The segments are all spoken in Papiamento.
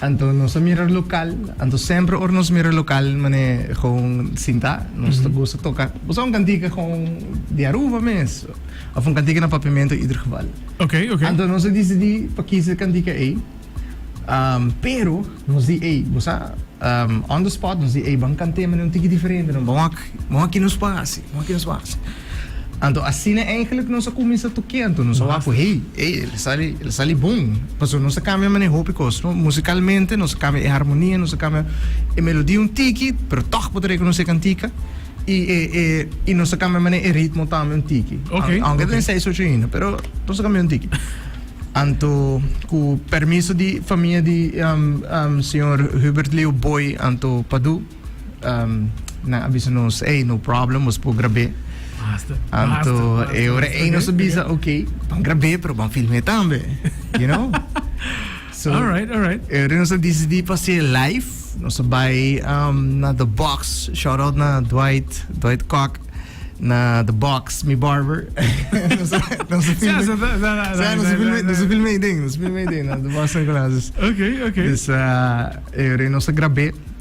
Anto nos a mira lokal, anto semper ora nos mira lokal man'e gewoon sinta nos ta gusta toka boso un kantika gewoon di Aruba mes of un kantika na Papiamento ieder geval. Oké, oké. Anto nos a disidi pa kisa e kantika ei, pero nos di ey bo sa on the spot nos di ey ban kant'e man'e un tiki diferente no, ban wak, ban wak ki nos por hasi, ban wak ki nos por hasi. Anto asina eigenlijk nos a kuminsá tukianto, nos a wak ku hey, ey el a sali, el a sali bon. Pasobra nos a kambia manera hopi kos, no? Musikalmente nos a kambia e harmonia, nos a kambia e melodia un tiki, pero tòg bo ta rekonosé kantika, i e e i nos a kambia manera e ritmo tambe un tiki. Ok, Aun- Aunke ta ok. den seis ocho ainda, pero nos a kambia un tiki. Anto ku permiso di famia di am am señor Hubert Leo Booi anto Padu. Nan a bisa nos, ey, no problem, bos por grab'é. Anto e ora ey nos a bisa, ok, ban grab'é, pero ban film'é tambe, you know. So, Alright, alright. e ora nos a disidí pa hasié live, nos a bai um, na The Box, shout out na Dwight, Dwight Kok, na The Box, mi barber. nos a, nos a Sí, film'é. so, da- da- da- Sí, nos a da- film'é, da- nos a film'é i den, nos a film'é i den, na The Box San Nicolas. Dus, Oké, oké. dus, ah, e ora nos a grab'é.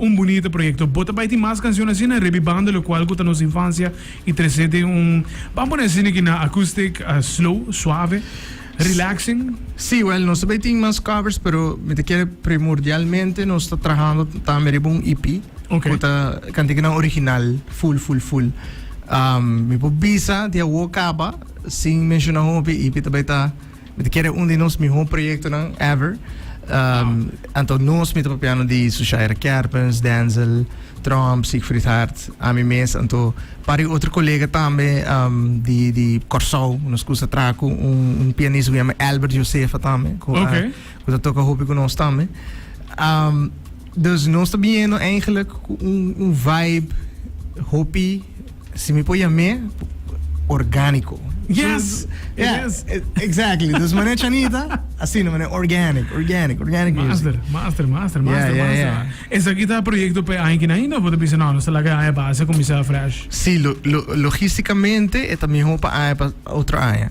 Un bunita proyekto. Bo ta bai tin mas kanshon asina riba e banda lokual ku ta nos infansia i trese den un, ban pone asina ki na acoustic, slow, suave, relaxing. Sí, wèl nos ta bai tin mas covers, pero mi ta kere primordialmente nos ta trahando tambe riba un EP Ok. ku ta kantikinan original full full full. Mi por bisa di awo kaba sin menshoná hopi, e EP ta bai ta. Mi ta kere un di nos mihó proyektonan ever. Anto nos mi ta papiando di Sushaira Kerpens, Denzel, Trump, Siegfried Hart, ami mes. Anto par e otro kolega tambe di di Kòrsou, nos kusa traha ku un pianista ku yama Albert Josefa tambe, ku ta toka hopi ku nos tambe. Dus nos ta biniendo eigenlijk cu un, un vibe hopi, si mi por yam'e, orgánico. Yes, it yeah, is. E, exactly. dus meneer Chanita, asina meneer, organic, organic, organic music. Master, master, master, master, yeah, master. Yeah, yeah. Esa aquí está proyecto pe año que naína, porque dice, no, no se la que año base, comienza fresh. Sí, lo, lo, logísticamente, es también hopa año para otro año.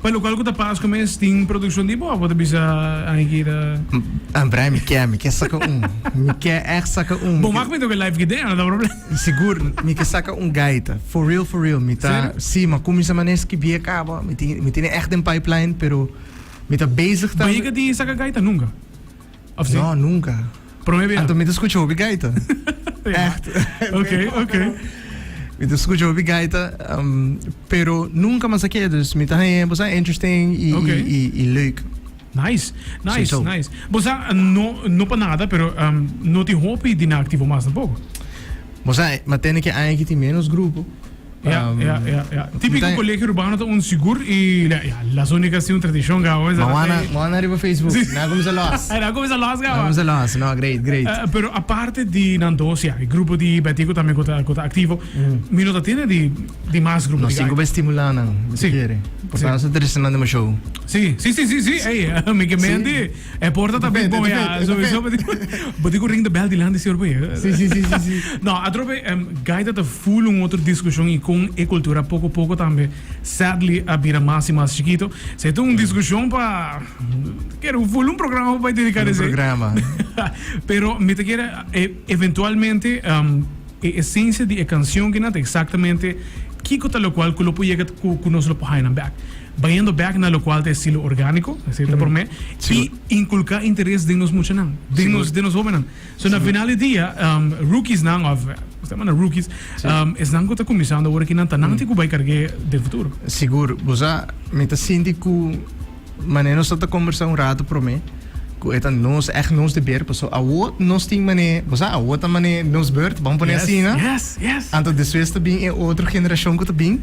Pa local cu ta pas cu mes tin produccion di bo? Bo ta bisa Angie ki ta. An brai mi ke, mi ke saca un. Mi ke echt saca un. Bo mak mi toke life gitara, no ta problem. Sigur, mi ke saca un gaita. For real, for real. Mi ta. Serio? Si, mi a cuminsa mane skibie caba. Mi tin, mi tin e echt den pipeline, pero mi ta bezig tambe. Bahiga tin saca gaita nunca? Of si? No, nunca. Prome bia? Anto mi ta scucha hopi gaita. Echt. ok, ok. Mi ta scucha hopi gaita, um, pero nunca mas aqui, dus mi ta haña, bosa, interesting i, Ok. i, i, i leuk. Nice, nice, Sowieso. nice. Bosa, no, no pa nada, pero um, no tin hopi di na activo mas tampoco. Bo sa, ma tende ki aña ki tin ménos grupo. Ya, ya, ya, ya. Típiko Nta- Kolegio Urbano ta un sigur i la, ya, las únicas tin un tradishon kawa mesa. Ma wana, ma wana riba Facebook. Sí. Na kuminsa los. Ai, na kuminsa los Na kawa. kuminsa los. No, great, great. Eh, pero aparte di nan dos, ya, e grupo di Betico tambe ku ta ku ta aktivo. Mi no ta tene di di mas grupo di Nos tin ku bai gaitas. stimulá nan, si Sí. kere. Sí. Portá nos ta tradishonal dema show. Sí, sí, sí, sí, sí. Ei, mi ke Sí. mente. E porta ta bit bon ya. So so bo tin ku ring de bel di landi sior boye. Si si si si si. No, atrobe em gaita ta full un otro diskushon i kon e kultura poko poko tambe sadly a bira mas i mas chikito. Esei ta un diskushon pa kere un full un programa pa bai dediká Full un n'esei. programa. Pero mi ta kere e eventualmente em e esensia di e kanshon kina ta eksaktamente kiko ta lokual ku lo por yega ku ku nos lo por haña nan bèk. Bayendo bek na lokual ta e silo orgániko, esei ta promé, i inkulká interes den nos muchanan, den nos den nos hóbennan. So na final di dia, rookiesnan òf nos ta manda rookies, esnan ku ta kuminsando awor aki nan ta nan tin ku bai karg'é den futuro. Sigur, bo sa, mi ta sinti ku mané nos a ta kombersá un ratu promé, ku e ta nos, ègt nos deber, pasobra awor nos tin mané, bo sa, awor ta mané nos bèrt, bam pon'é asina, anto despues ta bin e otro generashon ku ta bin.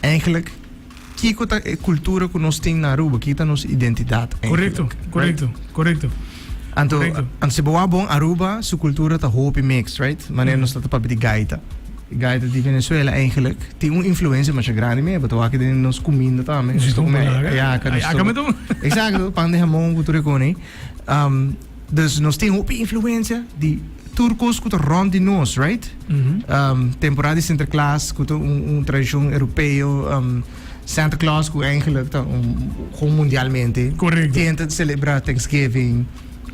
Eigenlijk kiko ta e kultura ku nos tin na Aruba? Kiko ta nos identidat eigenlijk? Korekto, korekto, korekto. Anto, anto si bo a bon Aruba, su kultura ta hopi mix, right? Manera nos ta ta papia di gaita. Gaita di Venezuela eigenlijk tin un influensia masha grandi meba. Ta wak den nos kuminda tambe. Nos ta kume ayaca, nos ta. Ayaca me tuma. Exacto, pan di hamon ku tur e koni. Um, Dus nos tin hopi influencia di tur cos cu ta rond di nos, right? Temporada di Sinterklaas cu ta un tradicion Europeo, Santa Claus cu eigenlijk ta un mundialmente. Correcto. Tien ta celebra Thanksgiving,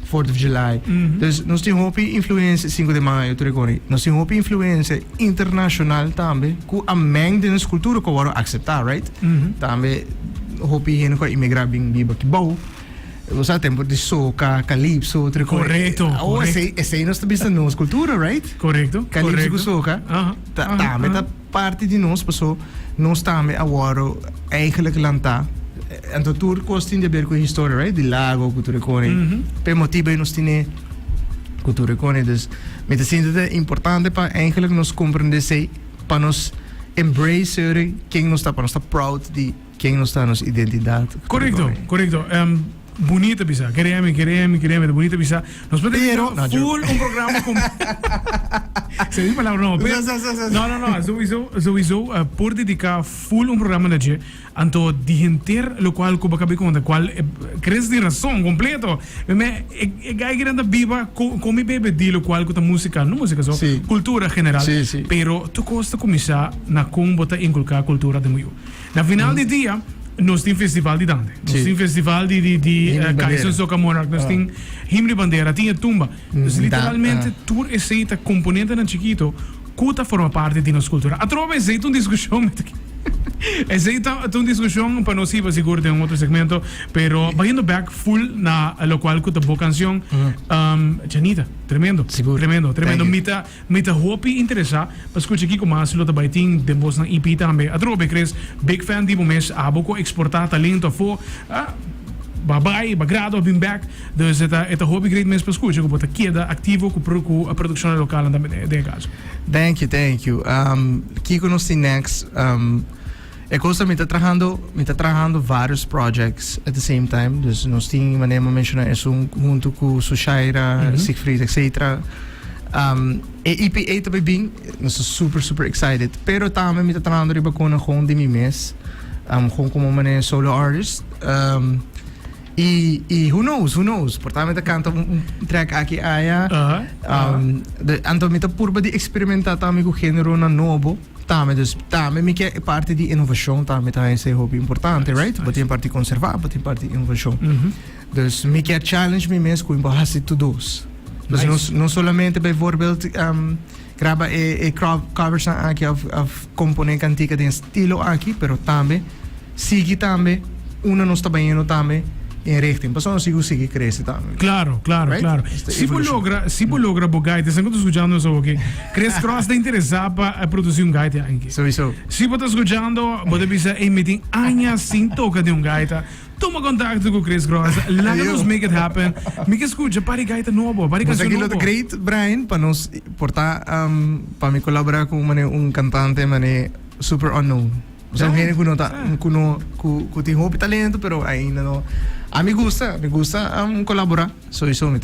Fourth of July. Dus nos tin hopi influencia, Cinco de Mayo tur e coni. Nos tin hopi influencia internacional tambe cu a meng den nos cultura cu a worde acepta, right? Tambe hopi hende cu a imigra bin biba aki bou. Nos a tempo di soca, calypso, otro cosa. Correcto, Ahora, correcto. esei, esei nos ta bisa nos cultura, right? Correcto, Calypso correcto. cu soca, Aha, ta, aha, tambe aha. ta parte di nos, paso nos tambe awor eigenlijk lanta. eh, Anto tur cos tin de ver cu historia, right? Di lago, cu tur e cone. Mhm. Pe motibo ei nos tine cu tur e cone. Dus, mi ta sinti ta importante pa eigenlijk nos comprende esei, pa nos embrace ere ken nos ta, pa nos ta proud di Ken nos ta, nos identidat. Korekto, korekto. Bunita bisa. Keremi, keremi, keremi ta bunita bisa. Nos por ta Pero, no, joke. full un programa con. Se di palabra no, pero. Sa, sa, sa, sa. No, no, no. Sowieso, sowieso eh, por dedica full un programa na je. Anto di henter lo cual cuba cabe conta cual eh, crees di razón completo. Me me e e gai que anda biba co con mi bebe di lo cual cuta música, no música so, Sí. cultura general. Sí, sí. Pero tu costa comienza na con bota inculcar cultura de muyo. Na final di dia nos tin festival di dante. Nos sí. tin festival di di di uh, eh, Kaisen Soca Monarch. Nos ah. tin him di bandera, tin e tumba. Mm, nos literalmente ah. tur esei ta componente nan chiquito kuta forma parte di nos cultura. Atrobe esei un discussión met Esei ta un discussión para nos iba seguro de un otro segmento, pero bayendo back full na lo cual kuta bo canción. Mm. Um, Janita, tremendo. Seguro. Tremendo, tremendo. Mita Mi ta hopi interesa pa skucha kiko mas lo ta bai tin den bosnan EP tambe. Atrobe e kres big fan di bo mes abo ku a eksportá talento afó a ba bai, ba grado a bin bèk. Dus e ta e ta hopi great mes pa skucha ku bo ta keda aktivo ku ku produkshonnan lokalnan tambe den e kaso. Thank you, thank you. Kiko nos tin next? E cos ta mi ta trahando mi ta trahando varios projects at the same time dus nos tin manera mi menciona esun hunto cu Sushaira mm -hmm. Siegfried etc um, e EPA ta bin nos ta super super excited pero tambe mi ta trahando riba con gewoon di mi mes um, gewoon como manera solo artist um, Y, y who knows, who knows. Por tanto, me canta un, un track aquí allá. Uh -huh. um, uh -huh. de, anto me purba de experimentar también con género na novo. Tambe dus tambe mi ke e parti di innovashon tambe ta ese hopi importante right bo tin parti konserva bo tin parti innovashon dus mi ke challenge mi mes ku mi por hasi tur dos dus no no solamente bijvoorbeeld um, graba e e covers aki of of kompone kantika den estilo aki pero tambe sigui tambe unda nos ta bayendo tambe en richting pasobra nos sigue sigui crece tambe. Claro, claro, right? claro. Si bo logra, si bo logra bo guide, sen kuto escuchando nos hoor que Chris Cross te interesa pa eh, produci un gaita anki. Sowieso. Si bo ta escuchando, bo te bisa, hey, me tin aña sin toca de un gaita. Toma contacto con Chris Cross. Laga nos make it happen. Mi que escucha, pari gaita nobo, pari canción nobo. Aquí great, Brian, pa nos porta, um, pa mi colabora con un cantante, mane, super unknown. Esaki un hende ku no ta ku no ku tin hopi talento pero ainda no a mi gusta mi gusta um, kolaborá so iso mi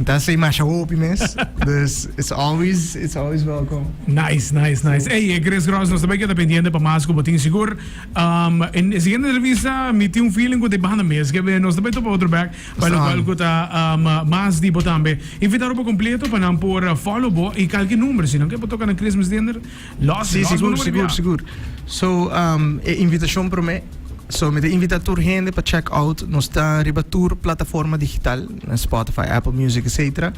ta sei masha hopi mes dus it's always it's always welcome nice nice nice hey eh, Chris Gross nos também queda pendiente pa mas ku botin sigur um, en e siguiente entrevista mi tin un feeling ku te banda mes ke nos também topa otro back pa lo cual ku ta um, mas di bo tambe invitado pa completo pa nan por follow bo i kalki number sinan ke bo toka na Christmas dinner Los, sí, los sigur, sigur, sigur. So, um, e invitacion prome. So, me te invita tur hende pa check out. No sta riba tur plataforma digital, Spotify, Apple Music, etc.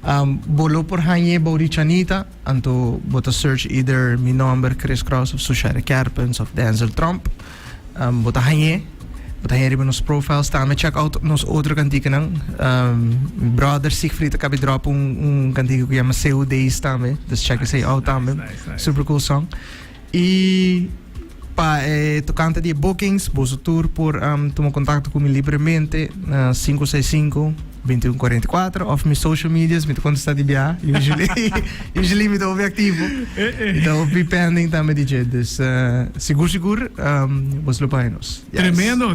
Um, bolo por hanje Bori Chanita, anto bota search either mi nomber, Chris Cross, of Sushare Kerpens, of Denzel Trump. Um, bo ta hañ'é, bo ta hañ'é riba nos profile staan. Me check out nos otro kantikenan. Um, brother Siegfried a kabi drop un, un kantike ku yama Seu Days tambe. Dus check esei out tambe. Super cool song. I pa eh, tocante di bookings, boso tour por um, tuma contacto cu mi libremente na 565 Bintiun kuarenta i kuater of mi social medias mi ta kontestá di biaha usually usually mi ta hopi aktivo mi ta hopi pending tambe di dje dus sigur sigur bos lo pahe nos yes. Tremendo.